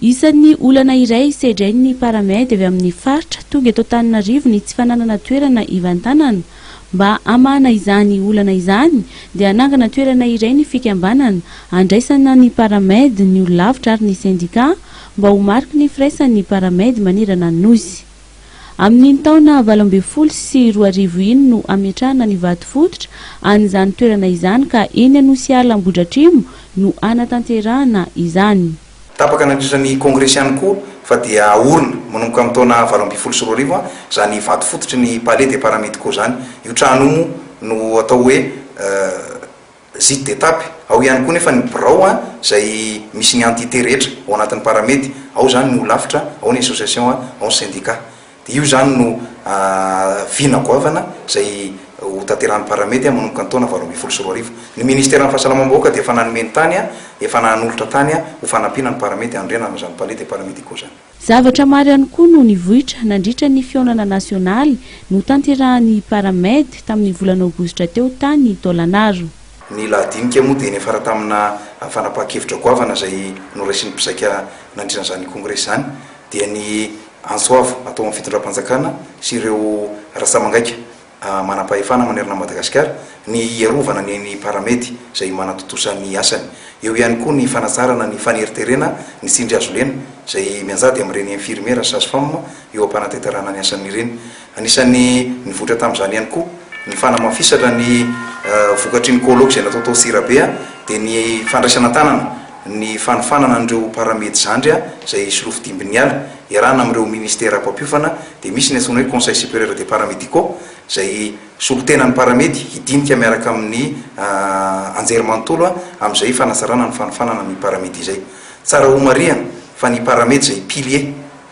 Isan'ny olana iray sedrain'ny Paramed avy amin'ny faritra tonga eto Antananarivo ny tsy fananana toerana hivantanana. Mba hamahana izany olana izany dia hanangana toerana iray ny fikambanana handraisana ny Paramed, ny olon-lavitra ary ny sendikà mba ho mariky ny firaisan'ny Paramed manerana ny Nosy. Amin'iny taona valo ambin'ny folo sy roa arivo iny no ametrahana ny vato fototra an'izany toerana izany ka eny Anosiala Ambohidratrimo no hanatanterahana izany. Tapaka nandritra ny kongresy ihany koa fa dia aorina manomboka amin'ny taona valo ambin'ny folo sy roa arivo izany vato fototry ny Palais des Paramédicaux izany. Io trano io moa no atao hoe. Zid d'étape. Ao ihany koa nefa ny birao izay misy ny entité rehetra ao anatin'ny Paramed, ao izany ny holafitra, ao ny association, ao ny syndicat. Dia io izany no vina goavana izay ho tanterahan'ny Paramed manomboka ny taona valo ambin'ny folo sy roa arivo. Ny ministeran'ny fahasalamam-bahoaka dia efa nanome ny tany, efa nanolotra tany ho fanampiana ny Paramed hanorenana izany palais des paramédicaux izany. Zavatra maro ihany koa no nivoitra nandritra ny fihaonana nasionaly notanterahan'ny Paramed tamin'ny volana Aogositra teo tany Tôlanaro. Ny lahadinika moa dia niafara tamina fanapahan-kevitra goavana izay noraisin'ny mpizaika nandritra an'izany kongresy izany, dia ny antso avo atao amin'ny fitondram-panjakana sy ireo rantsamangaika. manam-pahefana manerana an'i Madagasikara, ny hiarovana ny eny Paramety izay manatontosa ny asany. Eo ihany koa ny fanatsarana ny faneriterena ny tsindrihazolena izay mianjady amin'ireny infirmiera sy sage-femme eo am-panatenterahana ny asany ireny. Anisan'ny nivoitra tamin'izany ihany koa ny fanamafisatra ny vokatry ny colloque izay natao tao Tsirabe dia ny fandraisana an-tanana ny fanofanana an'ireo Paramedy zandry izay solofo dimbin'ny ala iarahana amin'ireo minisitera mpampiofana dia misy ny antsoina hoe Conseil Supérieur des Paramédicaux izay solotenan'ny Paramedy hidinika miaraka amin'ny anjerimanontolo amin'izay fanatsarana ny fanofanana ny Paramedy izay. Tsara homarihana fa ny Paramedy izay pilier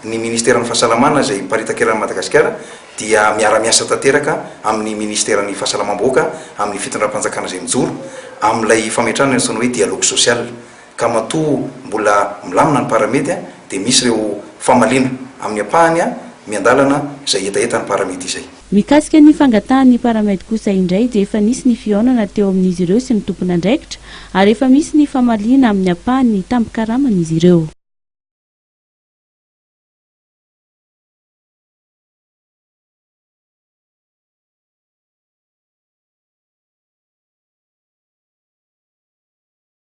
ny Ministeran'ny Fahasalamana izay miparitaka eran'i Madagasikara dia miara-miasa tanteraka amin'ny Ministeran'ny Fahasalamam-bahoaka amin'ny Fitondram-panjakana izay mijoro amin'ilay fametrahana ny antsoina hoe Dialogue Social ka matoa mbola milamina ny paramedy dia misy ireo famaliana amin'ny ampahany miandalana izay hetahetan'ny paramedy izay. Mikasika ny fangatahan'ny paramedy kosa indray dia efa nisy ny fihaonana teo amin'izy ireo sy ny tompon'andraikitra ary efa misy ny famaliana amin'ny ampahany ny tambin-karaman'izy ireo.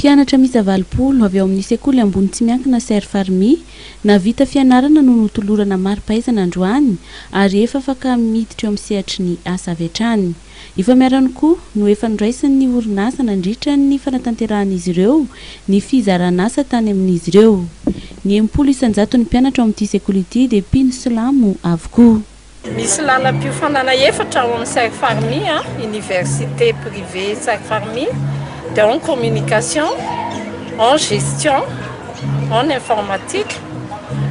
Mpianatra miisa valopolo avy ao amin'ny sekoly ambony tsy miankina Ser Farmi nahavita fianarana no notolorana mari-pahaizana androany ary efa afaka miditra eo amin'ny sehatry ny asa avy hatrany. Efa miharany koa no efa noraisin'ny orinasa nandritra ny fanatanterahan'izy ireo ny fizaran'asa tany amin'izy ireo. Ny enimpolo isan-jaton'ny mpianatra ao amin'ity sekoly ity dia mpino silamo avokoa. Misy lalam-piofanana efatra ao amin'ny Sairfarmi, Université privée Sairfarmi, dia ao ny communication, en gestion, en informatique,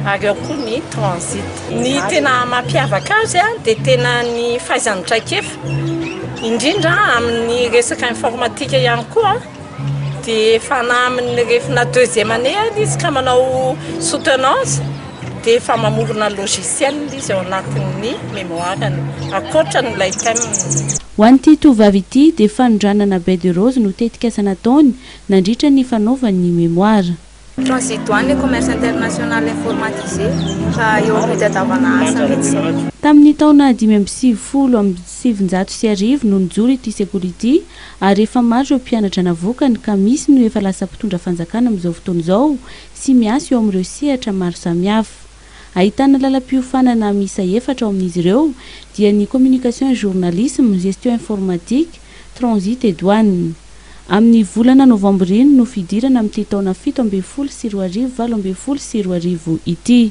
ary ao koa ny transit. Ny tena mampiavaka azy dia tena ny fahaizany traikefa, indrindra amin'ny resaka informatika ihany koa dia efa na amin'ny refina deuxième année ary izy ka manao soutenance dia efa mamorona logiciel izy ao anatin'ny mémoire-ny ankoatra an'ilay thème. Ho an'ity tovovavy ity dia fanondranana baie de rose no tetikasa nataony nandritra ny fanaovany ny mémoire. Transidoine et Commerce International Informatisé, ka eo amin'ny fitadiavana asa mihitsy izao. Tamin'ny taona dimy amby sivifolo amby sivinjato sy arivo no nijoro ity sekoly ity ary efa maro ireo mpianatra navokany ka misy no efa lasa mpitondra fanjakana amin'izao fotoana izao sy miasa eo amin'ireo sehatra maro samihafa. Ahitana lalam-piofanana miisa efatra ao amin'izy ireo dia ny Communication et Journalisme, Gestion Informatique, Transit et Douane. Amin'ny volana novambra iny no fidirana amin'ity taona fito ambin'ny folo sy roa arivo valo ambin'ny folo sy roa arivo ity.